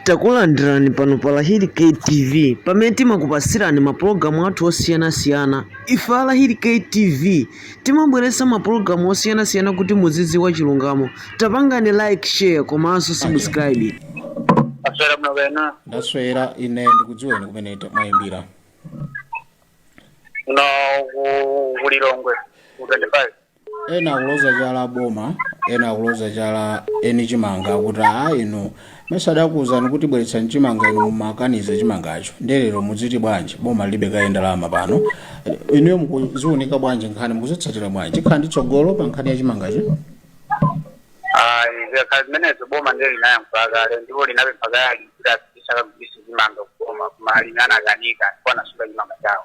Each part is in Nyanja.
Takulandirani pano pa Lahiri K TV pamene timakupatsirani mapulogalamu athu osiyanasiyana. Ife a Lahiri K TV timabweretsa mapulogalamu osiyanasiyana kuti muzidziwa chilungamo. Tapangani like, share komanso subscribe. maswera muno bwana ndaswera ine ndikudziweni kumene ta- mwayimbira no ku- ku lilongwe ku 25 ena akuloza chala boma ena akuloza chala eni chimanga akuti a inu mesa adakuwuzani kuti bweretsani chimanga inu mumakaniza chimangacho ndelero mudziti bwanji boma lilibe kaye ndalama pano inuyo mukuziwunika bwanji nkhani mukuzitsatira bwanji ikhala ndi tsogolo pa nkhani ya chimangacho ayi zikakhala zimenezo boma ndiye linayankhula kale ndipo linapempha kale ali kuti apite akagulise chimanga kuboma koma amangonyalanyaza akanika ndipo anasunga chimanga chawo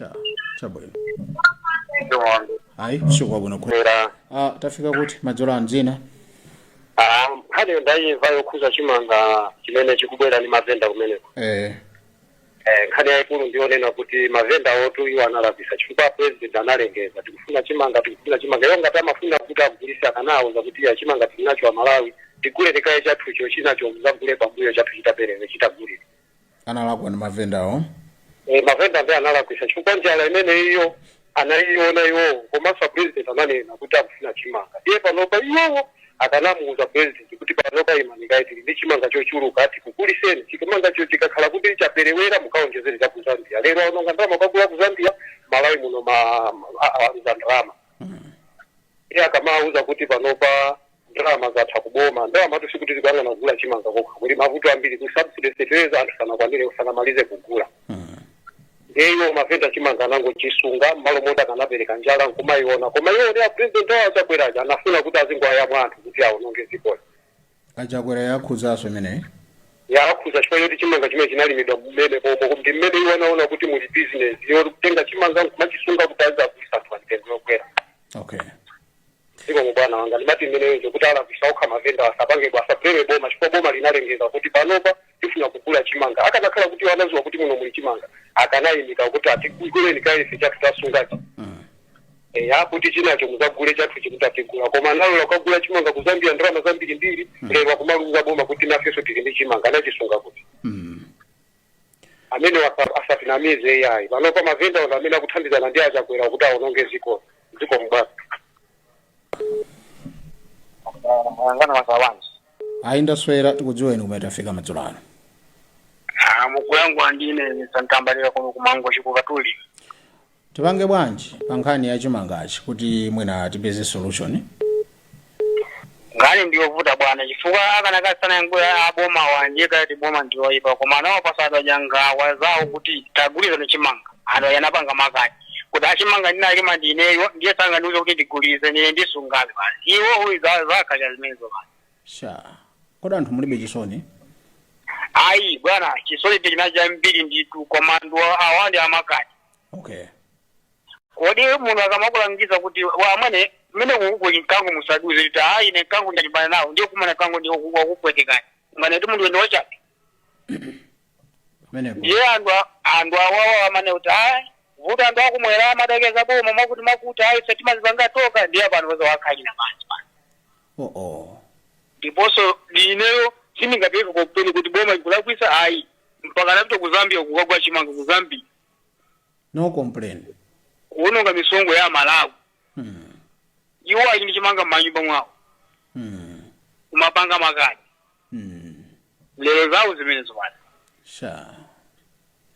eya chabwino ayi usiku wabwino kwe era ah, tafika kuti madzulo ano dzina ah, nkhani ndayimva yokhuza chimanga chimene chikubwera ndi mavenda kumeneko eh, Eh, nkhani yayikulu ndiyonena kuti mavenda otu iwo analakwisa chifukwa president analengeza tikufuna chimanga tikufuna chimanga iwo ngati amafuna kuti agulise akanawauza kuti iyayi chimanga tilinacho amalawi tigule kaye chathucho chinacho muzagule pambuyo chathu chikaperewera chikagulidwe analakwa ndi mavendawo Eh, mavenda ndiye analakwisa chifukwa njala imene iyo anaiona iwowo komanso a president ananena kuti akufuna chimanga iye panopa iwowo akanamuuza president kuti panopa imani kaye tili ndi chimanga chochuluka tikuguliseni chimangacho chikakhala kuti chaperewera mukaonjezere cha ku zambia lero aononga ndalama kukagula ku zambia malawi muno ma- a- a- aluza ndalama iye akamauza kuti panopa ndalama zatha kuboma ndalama tu sikuti tikuyang'ana kugula chimanga chokha kuli mavuto ambiri ku subsidy fertilizer anthu sanakwanire sanamalize kugula ndiye iwo mavenda chimanga anangochisunga mmalo moti akanapereka njala nkumayiona koma iwo ndi apresident awo achakweraja anafuna kuti azingowayamwa anthu kuti awononge dzikoli achakwera yakhudzaso imeneyi yakhuza chifukwa choti chimanga chimene chinalimidwa mmene pomwe ndi mmene iwo anaona kuti muli business yotenga chimanga nkumachisunga kuti azagulisa anthu pa mitengo yokwera okay zikomo bwana wanga ndimati imeneyo ndikuti alakwisa okha mavenda asapange asabuleme boma chifukwa boma linalengeza kuti panopa tifuna kugula chimanga akanakhala kuti anaziwa kuti muno muli chimanga akanayimika kuti tiguleni kaye ife chathu tasungachi eya kuti chinacho muzagule chathu chikatha tigula koma analola kukagula chimanga kuzambia ndalama zambiri mbiri lero akumaluza boma kuti nafenso tili ndi chimanga anachisunga kuti amenewa asa- asatinamize iyayi panopa mavenda ndi amene akuthandizana ndi achakwera kuti awononge ziko zikomo bwana mwaswera bwanji ayi ndaswera tikudziweni kumene tafika madzulo ano mukuyankhula ndi ine Santambalira kuno ku Mangochi ku Katuli Tipange bwanji pa nkhani ya chimangachi kuti mwina tipeze solution? Nkhani ndiyovuta bwana chifukwa akanakhala sanayankhule aboma bwenzi akuti boma ndi yoipa koma anawapasa anthu aja nkhawa zawo kuti tagulitsani chimanga anthu aja anapanga makani kuti a chimanga ndinalima ndineyo ndiye sangandiuze kuti ndigulitse ine ndisungabe basi iwo uyu za- zakhalira zimenezo basi Sha. Kodi anthu mulibe chisoni? ayi bwana chisoni tili nacho chambiri nditu koma ndiwo awa ndi a makani okay kodi munthu akamakulangiza kuti wa amwene mmene uku kuli mkango musadutse kuti aa ine mkango ndilimbana nawo ndiye mukumana mkango ndiye waku- wakupwetekani munganene kuti munthu uja ndi wachabe pamenepo ndiye anthu a- anthu awawa amanena kuti aa vuta anthu akum'mwera amaderera boma amakuti amakuti ayi ife timazipanga tokha ndiye pano zawakhalira pansi pano oh oh ndiponso ineyo sindingapange complain kuti boma ikulakwisa ayi mpaka anapita ku zambia kukagula chimanga ku zambia no complain kuononga misonkho ya amalawi mm. iwo ali ndi chimanga m'manyumba mwawo Mm. kumapanga makani Mm. lero zawo zimenezo pano sha